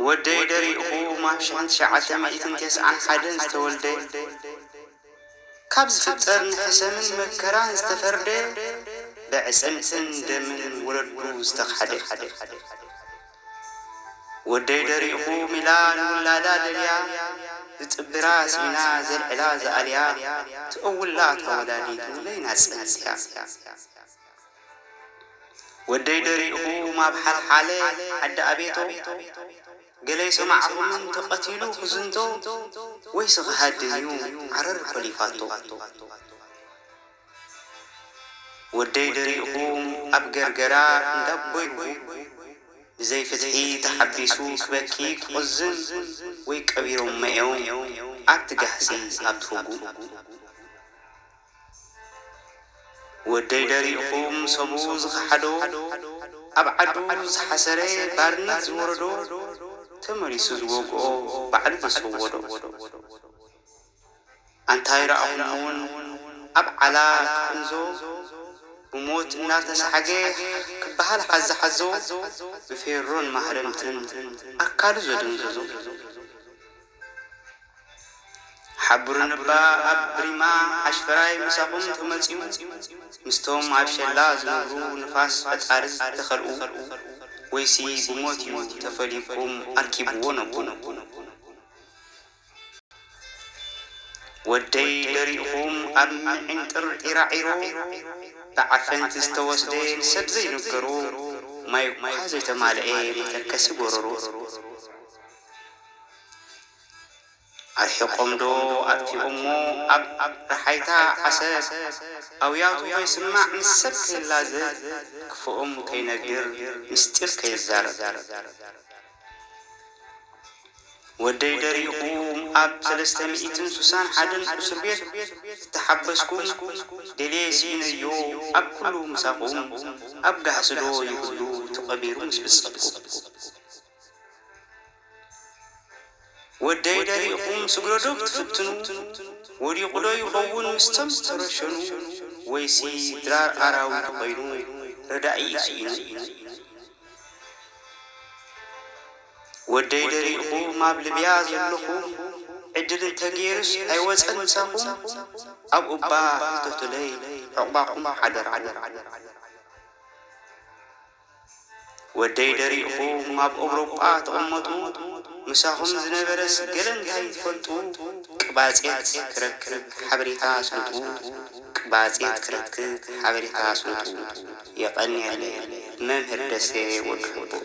ወደይ ደሪኡኹም ኣብ ሽሕን ትሽዓተ ሚእትን ተስዓን ሓደን ዝተወልደ፣ ካብ ዝፍጠር ንሕሰምን መከራን ዝተፈርደ፣ በዕጽምትን ደምን ወለዱ ዝተኻሕደ። ወደይ ደሪኹም ኢላ ንውላዳ ደልያ ዝጽብራ ሲኢና ዘልዕላ ዝኣልያ ትእውላ እታ ወላዲት ንበይና ጸልያ ወደይ ደሪኹም ኣብ ሓልሓለ ዓዲ ኣቤቶ ገለ ኣይሰማዕኩምን ተቐቲሉ ክዝንቶ ወይሲ ክሃድም እዩ ዓረር ኮሊፋቶ። ወደይ ደሪኹም ኣብ ገርገራ እንዳቦይ ውን ብዘይ ፍትሒ ተሓቢሱ ክበኪ ክቆዝም ወይ ቀቢሮሞ እዮም ኣብቲ ጋህሲ ኣብቲ ፉጉ ወደይ ደሪኹም ሰቡ ዝኸሓዶ ኣብ ዓዱ ዝሓሰረ ባርነት ዝወረዶ ተመሊሱ ዝወግኦ ባዕሉ ዘሰወዶ። ኣንታይ ረኣኹም ውን ኣብ ዓላ ክቅንዞ ብሞት እናተሳዓገ ክበሃል ሓዛ ሓዞ ብፌሮን ማህረምትን ኣካሉ ዘደንዘዞ ሓቡርንባ ኣብ ብሪማ ሓሽፈራይ ምሳኹም ተመጽዩ ምስቶም ኣብ ሸላ ዝነብሩ ንፋስ ፈጣሪ ዝተኸልኡ ወይሲ ብሞት ዩ ተፈልዩኩም ኣርኪብዎ ነቡ። ወደይ ደሪኹም ኣብ ምዒንጥር ዒራዒሮ ብዓፈንቲ ዝተወስደ ሰብ ዘይንገሮ ማይ'ኳ ዘይተማልኤ መተከሲ ጎረሮ ኣርሒቖም'ዶ ኣጥፊኦሞ ኣብ ረሓይታ ዓሰብ ኣውያቱ ከይስማዕ ምስ ሰብ ከይላዘብ ክፉኦም ከይነግር ምስጢር ከይዛረብ። ወደይ ደሪኹም ኣብ ሰለስተ ሚእትን ሱሳን ሓደን ኡስርቤት ዝተሓበስኩም ደልየ ሲኢነዮ ኣብ ኩሉ ምሳኹም ኣብ ጋህስዶ ይህሉ ተቐቢሩ ምስ ብጸትኩም። ወደይ ደሪኹም ስግረዶ ክትፍትኑ ወዲቑዶ ይኸውን ምስቶም ዝተረሸኑ ወይሲ ድራር ኣራዊት ኮይኑ ረዳኢ ስኢኑ ወደይ ደሪኹም ኣብ ልብያ ዘለኹም ዕድል እንተገይሩስ ኣይወጸን ምሳኹም ኣብ ኡባ ሕተቱለይ ዑቕባኹም ሓደራ። ወደይ ደሪእኹም ኣብ ኦብሮጳ ትቕመጡ ምሳኹም ዝነበረስ ገለ እንታይ ትፈልጡ ቅባጼት ክረክብ ሓበሬታ ኣስልጡ ቅባጼት ክረክብ ሓበሬታ ኣስልጡ የቐንየለይ መምህር ደሴ ወዲ ሕቡእ።